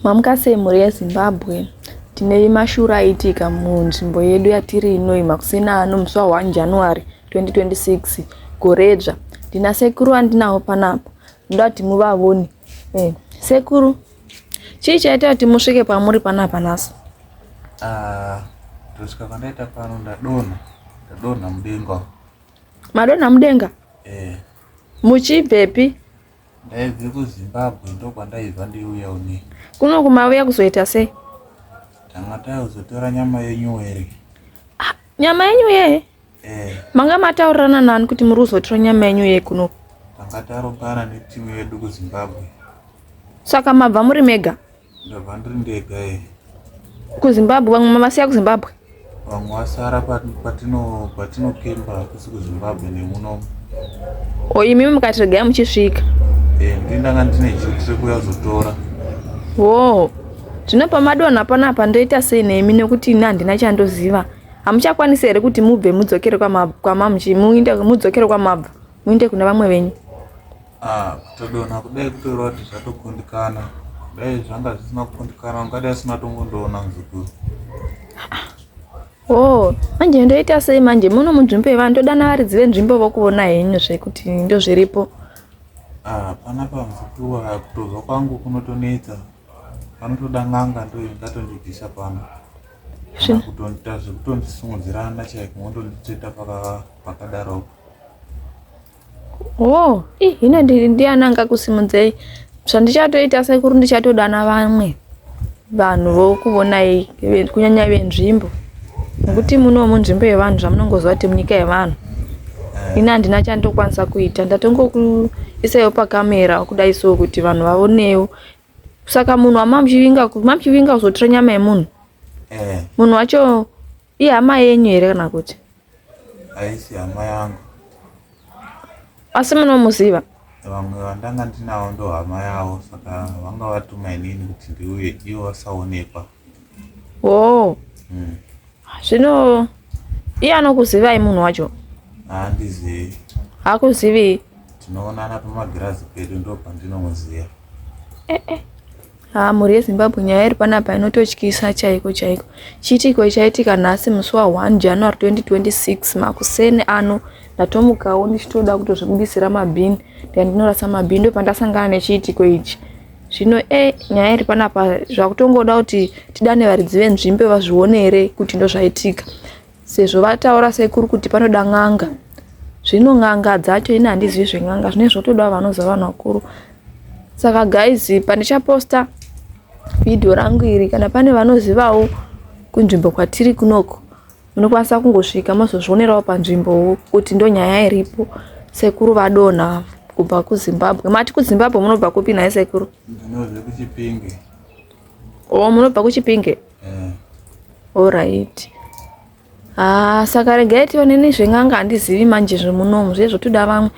Mamuka sei mhuri yeZimbabwe? Tineyi mashura aiitika munzvimbo yedu yatiri inoyi makuseni ano musi wa 1 January 2026 goredzva. Ndina sekuru andinawo panapa ndoda kuti muvavone. Eh, sekuru chii chaita kuti musvike pamuri panapa nhasi? Ah, kusvika kwandaita pano ndadonha ndadonha mudenga. Madonha mudenga? Eh. Muchibvepi? ndaibve kuzimbabwe ndokwandaibva ndiuya une kuno kumauya kuzoita sei tanga takuzotora nyama yenyu were ah, nyama yenyu ye eh. manga mataurirana nani kuti muri kuzotora nyama yenyu ye kuno tanga tarongana netimu yedu kuzimbabwe saka mabva muri mega Ndabva ndiri ndega ee. KuZimbabwe vamwe mavasiya kuZimbabwe. Vamwe vasara patino patino kemba kusi kuZimbabwe nemuno. O imi mukati regai muchisvika. Eh ndini ndanga ndine duty rekuya kuzotora. Wo. Zvino pamadonha panapa ndoita sei nemi nekuti ini handina chandoziva. Hamuchakwanisi here kuti mubve mudzokere kwamabva kwamamuchi muinde mudzokere kwamabva muinde kuna vamwe venyu. Ah, kutodonha kudai kutoreva kuti zvatokundikana dai zvanga zvisina kukundikana ungadai asina tongondoona muzukuru o oh, manje ndoita sei manje muno munzvimbo yevanhu ndodana varidzi venzvimbo vokuona henyu zvekuti ndo zviripo ah, pana pamuzukuru aya kutozwa kwangu kunotonetsa panotoda n'anga ndo ingatondibvisa pano kutondiita zvekutondisumudzirana chaiko mondonditsveta pakadaro Oh, ih, hino ndiri ndiani angakusimudzei zvandichatoita sekuru ndichatodana vamwe vanhu vokuvonai kunyanya venzvimbo nekuti muno munzvimbo yevanhu zvamunongoziva kuti munyika yevanhu ini handina chandokwanisa kuita ndatongokuisaiwo pakamera kudai so kuti vanhu vaonewo saka munhu wamamuchivinga mamuchivinga kuzotora nyama yemunhu eh. munhu wacho ihama yenyu here kana kuti Haisi hama yangu. Asi munomuziva? Vamwe vandanga ndinawo ndo hama yavo saka vanga vatuma inini kuti ndiuye ivo vasaonekwa. Oh. Mm. Zvino iye anokuzivai munhu wacho? Haandizivi. Hakuzivi? Tinoonana pamagirazi pedu ndo pandinomuziva. Eh eh. Haa mhuri yeZimbabwe nyaya iri panapa inototyisa chaiko chaiko. Chiitiko ichaitika nhasi musi wa 1 January 2026 makuseni ano ndatomukawo ndichitoda kutozvibudisira mabhini ndika ndinorasa mabhini ndopandasangana nechiitiko ichi. Zvino e eh, nyaya iri panapa zvakutongoda kuti tidane varidzi venzvimbo vazvione here kuti ndozvaitika. Sezvo vataura sekuru kuti panoda n'anga, zvino n'anga dzacho ini handizivi zven'anga zvinenge zvotoda vanoziva vanhu vakuru. Saka guys pandichaposta video rangu iri kana pane vanozivawo kunzvimbo kwatiri kunoko munokwanisa kungosvika mozozvionerawo panzvimbo kuti ndonyaya iripo sekuru vadonha kubva kuzimbabwe mati kuzimbabwe munobva kupi nhai sekuru o oh, munobva kuchipinge Alright. Ah, saka regai tione nezven'anga handizivi manje zvemunomu zviye zvotoda vamwe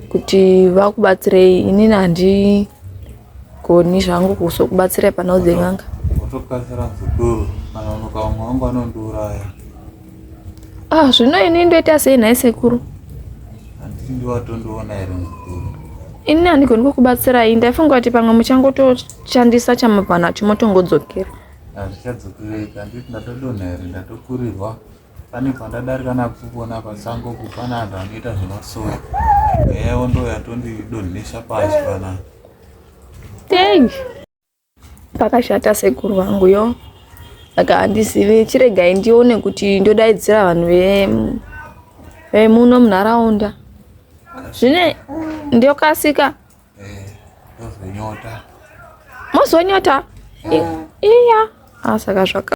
kuti vakubatsirei inini handigoni zvangu kuzokubatsirai panhau dzen'anga. Kutokasira zvikuru kana unoka umwe wangu anondiuraya. Ah, zvino ini ndoita sei nhai sekuru? Handiti ndiwatondoona here mukuru? Ini handigoni kukubatsirai, ndaifunga kuti pamwe muchangotoshandisa chamabva nacho motongodzokera. Hazvichadzokerei, handiti ndatodonha here ndatokurirwa pane pandadarika nakuona pasango kupana vanhu vanoita zvemasoro eya wondoya tondidonhesa pasi panapa thank you Pakashata sekuru vangu yo saka handizive chiregai ndione kuti ndodaidzira vanhu vemuno munharaunda zvine ndokasika mozonyota iya ah, saka zvaka